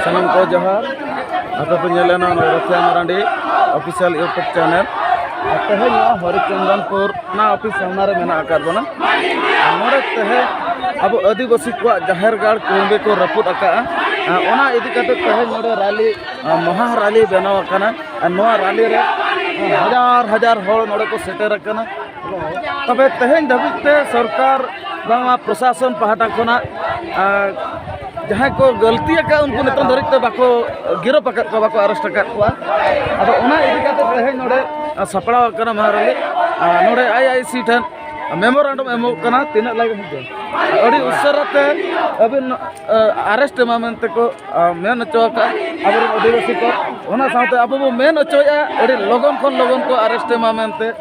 ᱥᱟᱱᱟᱢ ᱠᱚ ᱡᱚᱦᱟᱨ ᱟᱯᱮ ᱯᱮ ᱧᱮᱞ ᱮᱱᱟ ᱱᱚᱣᱟ Rasiya Marandi official YouTube channel ᱟᱨ ᱛᱮᱦᱮᱧ ᱱᱚᱣᱟ ᱦᱚᱨᱤᱪᱚᱱᱫᱚᱱᱯᱩᱨ ᱚᱱᱟ ᱚᱯᱷᱤᱥ ᱥᱟᱢᱱᱟ ᱨᱮ ᱢᱮᱱᱟᱜ ᱟᱠᱟᱫ ᱵᱚᱱᱟ ᱟᱨ ᱱᱚᱰᱮ ᱛᱮᱦᱮᱧ ᱟᱵᱚ ᱟᱹᱫᱤᱵᱟᱹᱥᱤ ᱠᱚᱣᱟᱜ ᱡᱟᱦᱮᱨ ᱜᱟᱲ ᱠᱩᱲᱩᱢᱵᱤ ᱠᱚ ᱨᱟᱹᱯᱩᱫ ᱟᱠᱟᱫᱼᱟ ᱟᱨ ᱚᱱᱟ ᱤᱫᱤ ᱠᱟᱛᱮ ᱛᱮᱦᱮᱧ ᱱᱚᱰᱮ ᱨᱟᱞᱤ ᱢᱚᱦᱟ ᱨᱟᱞᱤ ᱵᱮᱱᱟᱣ ᱟᱠᱟᱱᱟ ᱟᱨ ᱱᱚᱣᱟ ᱨᱟᱞᱤ ᱨᱮ ᱦᱟᱡᱟᱨ ᱦᱟᱡᱟᱨ ᱦᱚᱲ ᱱᱚᱰᱮ ᱠᱚ ᱥᱮᱴᱮᱨ ᱟᱠᱟᱱᱟ ᱛᱚᱵᱮ ᱛᱮᱦᱮᱧ ᱫᱷᱟᱹᱵᱤᱡ ᱛᱮ ᱥᱚᱨᱠᱟᱨ ᱵᱟᱝᱢᱟ ᱯᱨᱚᱥᱟᱥᱚᱱ ᱯᱟᱦᱴᱟ ᱠᱷᱚᱱᱟᱜ ᱡᱟᱦᱟᱸᱭ ᱠᱚ ᱜᱟᱹᱞᱛᱤ ᱟᱠᱟᱫ ᱩᱱᱠᱩ ᱱᱤᱛᱚᱝ ᱫᱷᱟᱹᱨᱤᱡ ᱛᱮ ᱵᱟᱠᱚ ᱜᱤᱨᱚᱯ ᱟᱠᱟᱫ ᱠᱚᱣᱟ ᱵᱟᱠᱚ ᱟᱨᱮᱥᱴ ᱟᱠᱟᱫ ᱠᱚᱣᱟ ᱟᱫᱚ ᱚᱱᱟ ᱤᱫᱤ ᱠᱟᱛᱮ ᱛᱮᱦᱮᱧ ᱱᱚᱰᱮ ᱥᱟᱯᱲᱟᱣ ᱟᱠᱟᱱᱟ ᱢᱟᱦᱟᱨᱟᱞᱤ ᱱᱚᱰᱮ ᱟᱭ ᱟᱭ ᱥᱤ ᱴᱷᱮᱱ ᱢᱮᱢᱳᱨᱟᱱᱰᱚᱢ ᱮᱢᱚᱜ ᱠᱟᱱᱟ ᱛᱤᱱᱟᱹᱜ ᱞᱟᱜᱟᱜ ᱦᱤᱡᱩᱜᱼᱟ ᱟᱹᱰᱤ ᱩᱥᱟᱹᱨᱟ ᱛᱮ ᱟᱹᱵᱤᱱ ᱟᱨᱮᱥᱴ ᱮᱢᱟ ᱢᱮᱱᱛᱮ ᱠᱚ ᱢᱮᱱ ᱦᱚᱪᱚ ᱟᱠᱟᱫ ᱟᱵᱚᱨᱮᱱ ᱟᱹᱫᱤᱵᱟᱹᱥᱤ ᱠᱚ ᱚᱱᱟ ᱥᱟᱶᱛᱮ ᱟᱵᱚ ᱵᱚᱱ ᱢᱮᱱ ᱦᱚᱪᱚᱭᱮᱫᱼᱟ ᱟᱹᱰᱤ ᱞᱚᱜᱚᱱ ᱠᱷᱚᱱ ᱞᱚᱜᱚᱱ ᱠᱚ ᱟᱨᱮᱥᱴ ᱮᱢᱟ ᱢᱮᱱᱛᱮ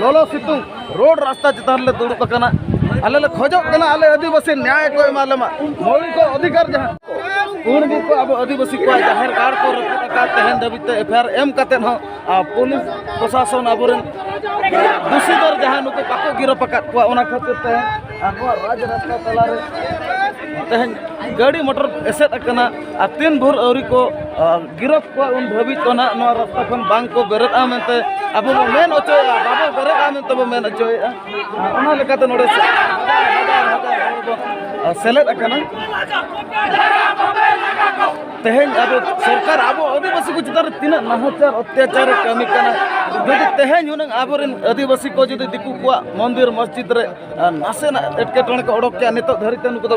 ᱞᱚᱞᱚ ᱥᱤᱛᱩᱝ ᱨᱳᱰ ᱨᱟᱥᱛᱟ ᱪᱮᱛᱟᱱ ᱨᱮᱞᱮ ᱫᱩᱲᱩᱵ ᱟᱠᱟᱱᱟ ᱟᱞᱮ ᱞᱮ ᱠᱷᱚᱡᱚᱜ ᱠᱟᱱᱟ ᱟᱞᱮ ᱟᱹᱫᱤᱵᱟᱹᱥᱤ ᱱᱭᱟᱭ ᱠᱚ ᱮᱢᱟ ᱞᱮᱢᱟ ᱢᱚᱣᱞᱤᱠ ᱚᱫᱷᱤᱠᱟᱨ ᱡᱟᱦᱟᱸ ᱩᱱ ᱜᱮ ᱠᱚ ᱟᱵᱚ ᱟᱹᱫᱤᱵᱟᱹᱥᱤ ᱠᱚᱣᱟᱜ ᱡᱟᱦᱮᱨ ᱜᱟᱲ ᱠᱚ ᱨᱟᱹᱯᱩᱫ ᱟᱠᱟᱫ ᱛᱮᱦᱮᱧ ᱫᱷᱟᱹᱵᱤᱡ ᱛᱮ ᱮᱯᱷ ᱟᱭ ᱟᱨ ᱮᱢ ᱠᱟᱛᱮᱫ ᱦᱚᱸ ᱯᱩᱞᱤᱥ ᱯᱨᱚᱥᱟᱥᱚᱱ ᱟᱵᱚᱨᱮᱱ ᱫᱩᱥᱤ ᱫᱚᱨ ᱡᱟᱦᱟᱸ ᱱᱩᱠᱩ ᱵᱟᱠᱚ ᱜᱤᱨᱚᱯ ᱟᱠᱟᱫ ᱠᱚᱣᱟ ᱚᱱᱟ ᱠᱷᱟᱹᱛᱤᱨ ᱛᱮ ᱟᱵᱚᱣᱟᱜ ᱨᱟᱡᱽ ᱨᱟᱥᱛᱟ ᱛᱟᱞᱟᱨᱮ ᱛᱮᱦᱮᱧ ᱜᱟᱹᱰᱤ ᱢᱚᱴᱚᱨ ᱮᱥᱮᱫ ᱟᱠᱟᱱᱟ ᱟᱨ ᱛᱤᱱ ᱵᱷᱳᱨ ᱟᱹᱣᱨᱤ ᱠᱚ ᱜᱤᱨᱚᱯ ᱠᱚᱣᱟ ᱩᱱ ᱫᱷᱟᱹᱵᱤᱡ ᱫᱚ ᱱᱟᱦᱟᱜ ᱱᱚᱣᱟ ᱨᱟᱥᱛᱟ ᱠᱷᱚᱱ ᱵᱟᱝ ᱠᱚ ᱵᱮᱨᱮᱫᱼᱟ ᱢᱮᱱᱛᱮ ᱟᱵᱚ ᱵᱚ ᱢᱮᱱ ᱦᱚᱪᱚᱭᱮᱫᱼᱟ ᱵᱟᱵᱚ ᱵᱮᱨᱮᱫᱼᱟ ᱢᱮᱱᱛᱮ ᱵᱚ ᱢᱮᱱ ᱦᱚᱪᱚᱭᱮᱫᱼᱟ ᱚᱱᱟ ᱞᱮᱠᱟᱛᱮ ᱱᱚᱰᱮ ᱥᱮᱞᱮᱫ ᱟᱠᱟᱱᱟ ᱛᱮᱦᱮᱧ ᱟᱵᱚ ᱥᱚᱨᱠᱟᱨ ᱟᱵᱚ ᱟᱹᱫᱤᱵᱟᱹᱥᱤ ᱠᱚ ᱪᱮᱛᱟᱱ ᱨᱮ ᱛᱤᱱᱟᱹᱜ ᱱᱟᱦᱟᱪᱟᱨ ᱚᱛᱛᱟᱪᱟᱨ ᱮ ᱠᱟᱹᱢᱤ ᱠᱟᱱᱟ ᱡᱩᱫᱤ ᱛᱮᱦᱮᱧ ᱦᱩᱱᱟᱹᱝ ᱟᱵᱚᱨᱮᱱ ᱟᱹᱫᱤᱵᱟᱹᱥᱤ ᱠᱚ ᱡᱩᱫᱤ ᱫᱤᱠᱩ ᱠᱚᱣᱟᱜ ᱢᱚᱱᱫᱤᱨ ᱢᱚᱥᱡᱤᱫ ᱨᱮ ᱱᱟᱥᱮᱱᱟᱜ ᱮᱴᱠᱮᱴᱚᱬᱮ ᱠᱚ ᱚᱰᱚᱠ ᱠᱮᱭᱟ ᱱᱤᱛᱚᱜ ᱫᱷᱟᱹᱨᱤᱡ ᱛᱮ ᱱᱩᱠᱩ ᱫᱚ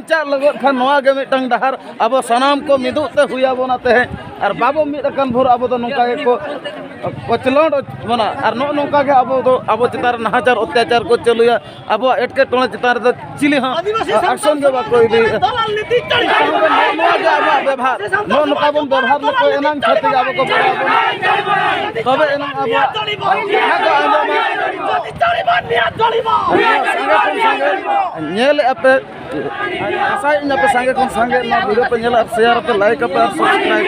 ᱪᱟᱜ ᱞᱟᱹᱜᱤᱫ ᱠᱷᱟᱱ ᱱᱚᱣᱟ ᱜᱮ ᱢᱤᱫᱴᱟᱝ ᱰᱟᱦᱟᱨ ᱟᱵᱚ ᱥᱟᱱᱟᱢ ᱠᱚ ᱢᱤᱫᱚᱜ ᱛᱮ ᱦᱩᱭ ᱟᱵᱚᱱᱟ ᱛᱮᱦᱮᱧ ᱟᱨ ᱵᱟᱵᱚ ᱢᱤᱫ ᱟᱠᱟᱱ ᱵᱷᱳᱨ ᱟᱵᱚ ᱫᱚ ᱱᱚᱝᱠᱟ ᱜᱮᱠᱚ ᱠᱚᱪᱞᱚᱸᱰ ᱵᱚᱱᱟ ᱟᱨ ᱱᱚᱜᱼᱚ ᱱᱚᱝᱠᱟ ᱜᱮ ᱟᱵᱚ ᱫᱚ ᱟᱵᱚ ᱪᱮᱛᱟᱱ ᱨᱮ ᱱᱟᱦᱟᱪᱟᱨ ᱚᱛᱛᱟᱪᱟᱨ ᱠᱚ ᱪᱟᱹᱞᱩᱭᱟ ᱟᱵᱚᱣᱟᱜ ᱮᱴᱠᱮᱴᱚᱬᱮ ᱪᱮᱛᱟᱱ ᱨᱮᱫᱚ ᱪᱤᱞᱤ ᱦᱚᱸ ᱟᱠᱥᱚᱱ ᱜᱮ ᱵᱟᱠᱚ ᱤᱫᱤᱭᱮᱫᱟ ᱱᱚᱣᱟ ᱜᱮ ᱟᱵᱚᱣᱟᱜ ᱵᱮᱵᱷᱟᱨ ᱱᱚᱜᱼᱚ ᱱᱚᱝᱠᱟ ᱵᱚᱱ ᱵᱮᱵᱷᱟᱨ ᱞᱮᱠᱚ ᱮᱱᱟᱝ ᱠᱷᱟᱹᱛᱤᱨ ᱜᱮ ᱟᱵᱚ ᱠᱚ ᱵᱚᱲᱚ ᱟᱵᱚᱱᱟ ᱛᱚᱵᱮ ᱮᱱᱟᱝ ᱟᱵᱚᱣᱟᱜ ᱠᱟᱛᱷᱟ ᱠᱚ ᱟᱸᱡᱚᱢᱟ ᱥᱟᱸᱜᱮ ᱠᱷᱚᱱ ᱥᱟᱸᱜᱮ ᱧᱮᱞᱮᱫᱼᱟ ᱯᱮ ᱟᱥᱟᱭ ᱤᱧ ᱟᱯᱮ ᱥᱟᱸᱜᱮ ᱠᱷᱚᱱ ᱥᱟᱸᱜᱮ ᱱᱚᱣᱟ ᱵᱷᱤᱰᱤᱭᱳ ᱯᱮ ᱧᱮᱞᱟ ᱥᱮᱭᱟᱨ ᱟᱯᱮ ᱞᱟᱭᱤᱠ ᱟᱯᱮ ᱟᱨ ᱥᱟᱵᱥᱠᱨᱟᱭᱤᱵ